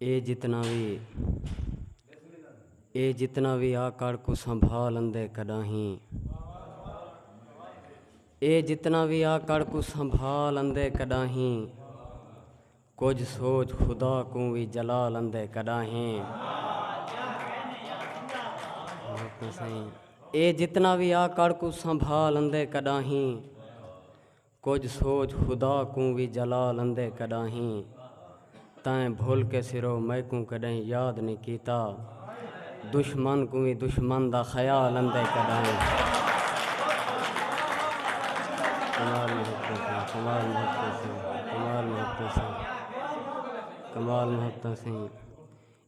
اے جتنا وی آ کر کوں سنبھال اندے کڈاہیں کجھ سوچ خدا کوں وی جلال اندے کڈاہیں اے جتنا وی آ کر کوں سنبھال اندے کڈاہیں کجھ سوچ خدا کوں وی جلا لندے کڈاہیں تیں بھل کے سرو میکوں کڈہیں یاد نی کیتا دشمن کوں وی دشمن دا خیال اندے کڈاہیں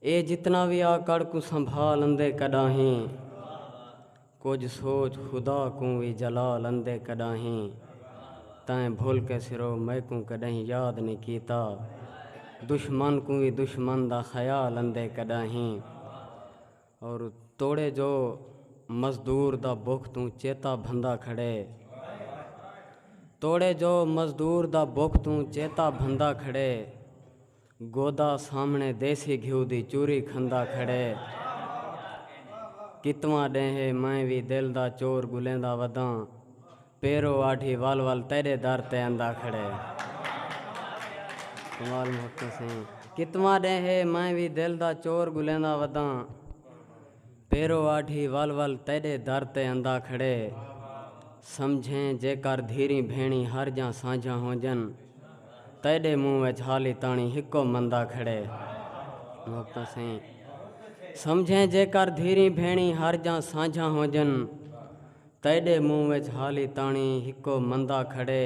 اے جتنا وی آ کڑ کوں سنبھال اندے کڈاہیں۔ کجھ سوچ خدا کوں وی جلال اندے کڈاہیں تیں بھل کے سرو میکوں کڈاہیں یاد نی کیتا دشمن کوں وی دشمن دا خیال اندے کڈاہیں اور توڑے جو مزدور دا بکھ توں چیتا بھندا کھڑے توڑے جو مزدور دا بکھ توں چیتا بھندا کھڑے گودا سامنے دیسی گھیو دی چوری کھندا کھڑے کتواں ڈینہہ اے میں وی دل دا چور گلیندا وداں پیرو آڈھی ول ول تیڈے در تے ایندا کھڑے کمال محکم سائیں کتواں ڈینہہ اے میں وی دل دا چور گلیندا وداں پیرو آڈھی ول ول تیڈے در تے اندا کھڑے سمجھیں جے کر دھیریں بھینڑیں ہر جاں سانجھاں ہونجن تیڈے منہ وچ حالی تاݨیں ہکو مندا کھڑے سمجھیں جے کر دھیریں بھینڑیں ہر جاں سانجھاں ہونجن تیڈے منہ وچ حالی تاݨیں ہکو مندا کھڑے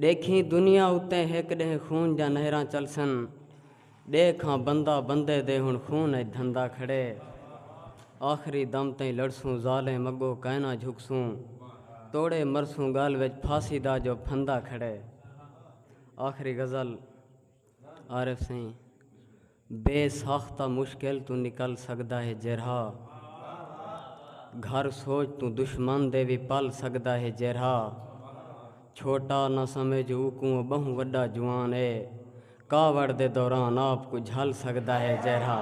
ݙیکھیں دنیا اتے ہک ݙینہہ خون دیاں نہراں چلسن ݙیکھ ہاں بندہ بندے دے ہݨ خون اچ دھندا کھڑے آخری دم تئیں لڑسوں ظالم اڳو کائناں جھکسوں توڑے مرسوں ڳل وچ پھاسی دا جو پھندا کھڑے آخری غزل عارف سئیں بے ساخ تاں مشکل توں نکل سڳدا ہے جیرھا گھر سوچ توں دشمن دے وی پل سڳدا ہے جیرھا چھوٹا نہ سمجھ اوکوں او ٻہوں وݙا جوان اے کاوڑ دے دوران آپ کوں جھل سڳدا ہے جیرھا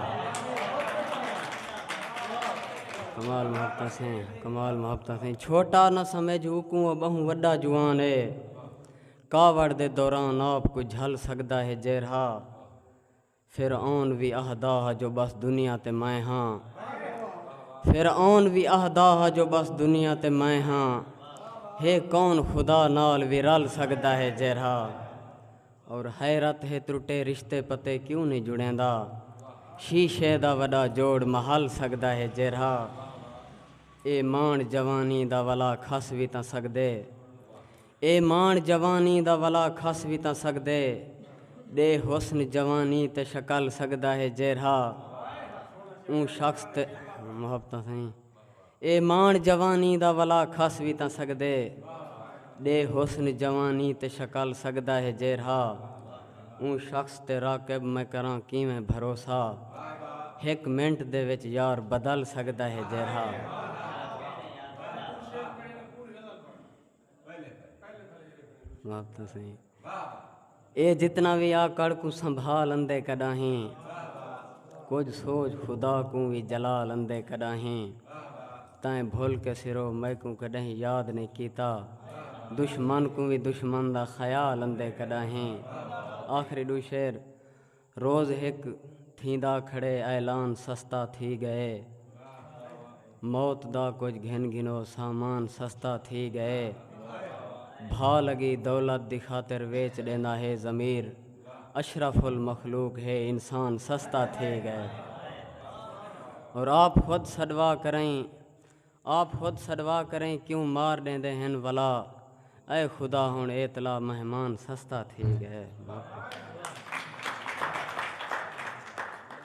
کمال محبتاں سیں کمال محبتاں سیں چھوٹا نہ سمجھ اوکوں او ٻہوں وݙا جوان اے کاوڑ دے دوران آپ کوں جھل سڳدا ہے جیرھا فرعون وی آہدا ہا جو ٻس دنیا تے میں ہاں فرعون وی آہدا ہا جو ٻس دنیا تے میں ہاں ہے کون خدا نال وی رل سڳدا ہے جیرھا اور حیرت ہے ترٹے رشتے پتے کیوں نی جڑیندا شیشے دا وݙا جوڑ مہل سڳدا ہے جیرھا اے مانڑ جوانی دا ولا کھس وی تاں سڳدے اے ماݨ جوانی دا ولا کھس وی تاں سڳدے ݙے حسن جوانی تے شکل سڳدا ہے جیرھا اوں شخص تے محبتاں سئیں اے ماݨ جوانی دا ولا کھس وی تاں سڳدے ݙے حسن جوانی تے شکل سڳدا ہے جیرھا اوں شخص تے راقب میں کراں کیویں بھروسہ ہک منٹ دے وچ یار بدل سڳدا ہے جیرھا۔ اے جتنا وی آکڑ کوں سنبھال اندے کݙاہیں کجھ سوچ خدا کوں وی جلال اندے کݙاہیں تیں بھل کے سرو میکوں کݙاہیں یاد نئیں کیتا دشمن کوں وی دشمن دا خیال اندے کݙاہیں آخری ݙو شعر روز ہک تھیندا کھڑے اعلان سستا تھی ڳئے موت دا کجھ گھن گھنو سامان سستا تھی ڳئے بھا لگی دولت دی خاطر ویچ ݙیندا ہے ضمیر اشرف المخلوق ہے انسان سستا تھی ڳئے اور آپ خود سڈوا کریں آپ خود سڈوا کریں کیوں مار ڈیندے ہن ولا اے خدا ہن اے تلا مہمان سستا تھی گئے۔